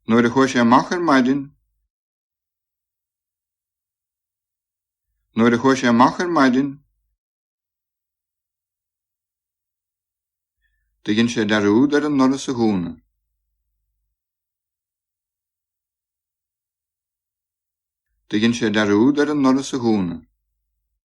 Nuair a chuaidh sé amach ar maidin Nuair a chuaidh sé amach ar maidin do dhein sé dearúd ar an ndoras a dhúnadh. Do dhein sé dearúd ar an ndoras a dhúna.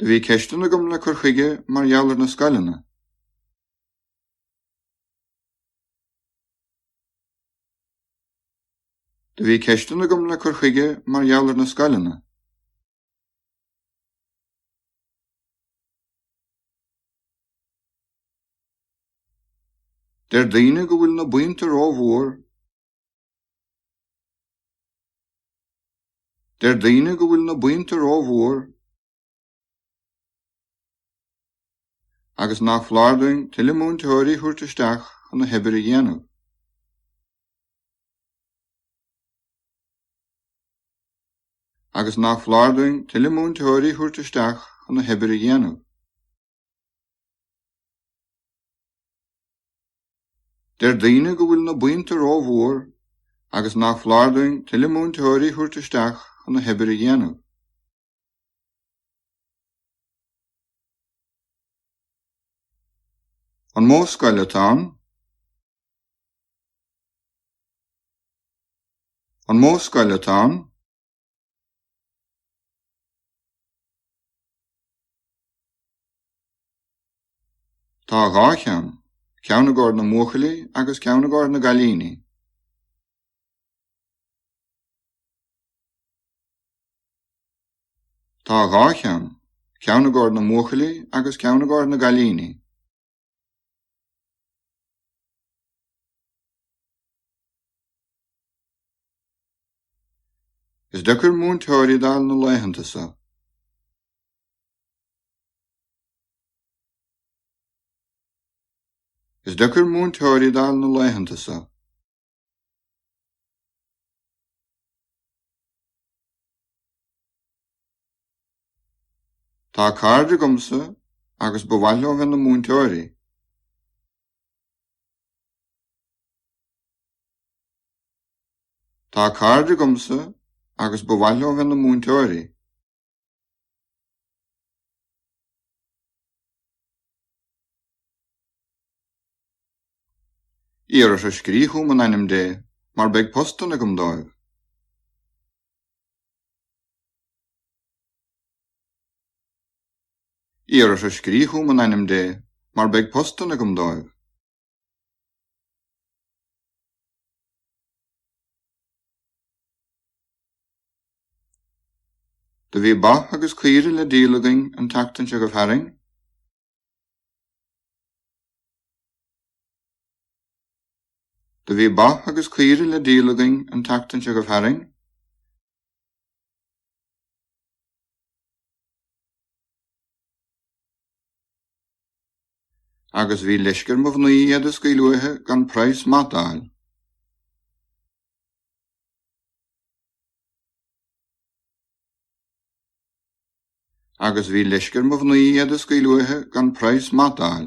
Do bhí ceisteanna agam le cur chuige mar gheall ar na scoileanna. Do bhí ceisteanna agam le cur chuige mar gheall ar na scoileanna. Deir daoine go bhfuil na buíonta rómhór. Deir daoine go bhfuil na buíonta rómhór agus nach foláir dúinn tuilleadh múinteoirí a thabhairt isteach chun na hoibre a dhéanamh. agus nach foláir dúinn tuilleadh múinteoirí thabhairt isteach chun na hoibre a dhéanamh. Deir daoine go bhfuil na buíonta rómhór agus nach foláir dúinn tuilleadh múinteoirí thabhairt isteach chun na hoibre a dhéanamh. An mó scoil atá An mó scoil atá ann? Tá dhá cheann, ceann i gcomhair na mbuachaillí agus ceann i gcomhair na gcailíní. Tá dhá cheann, ceann i gcomhair na mbuachaillí agus ceann i gcomhair na gcailíní. Is deacair múinteoirí d'fháil na laethanta so. Is deacair múinteoirí d'fháil na laethanta so. Tá cairde agamsa agus ba mhaith leo bheith 'na múinteoirí. Tá cairde agamsa agus ba mhaith leo bheith 'na múinteoirí. Iarras a scrí chúm in ainm Dé mar beidh postanna agam dóibh. Iarras a scrí chúm in ainm Dé mar beidh postanna agam dóibh. Do bhí ba agus caoire le díol againn an tseachtain seo ghaibh tharainn. Do bhí ba agus caoire le díol againn an tseachtain seo ghaibh tharainn. Agus bhí leisc ar mo mhnaoi iad a scaoileadh uaithe gan praghas maith d'fháil. Agus bhí leisc ar mo mhnaoi iad a scaoileadh uaithe gan praghas maith d'fháil.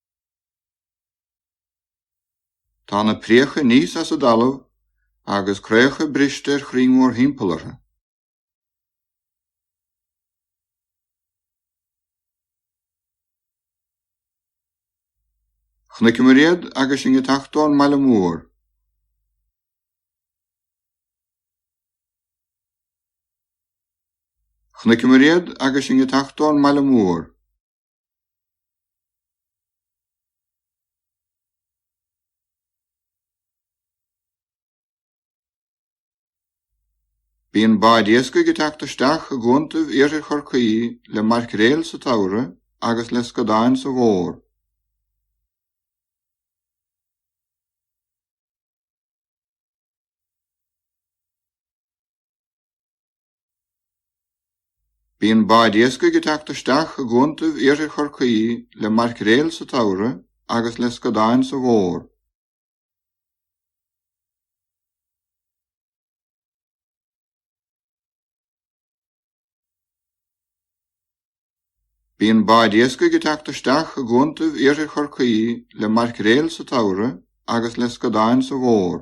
Tá na préamhacha aníos as an dtalamh agus craobhacha briste an chrainn mhóir thimpeall orthu. Chonaiceamar iad agus sinn ag teacht ón mbaile mór. Chonaiceamar iad agus sinn ag teacht ón mbaile mór. Bíonn báid iascaigh ag teacht isteach i gcuantaibh Iarthair Chorcaí le maircréil sa tsamhradh agus le scadáin sa bhfómhar. Bíonn báid iascaigh ag teacht isteach i gcuantaibh Iarthair Chorcaí le maircréil sa tsamhradh agus le scadáin sa bhfómhar. Bíonn báid iascaigh ag teacht isteach i gcuantaibh Iarthair Chorcaí le maircréil sa tsamhradh agus le scadáin sa bhfómhar.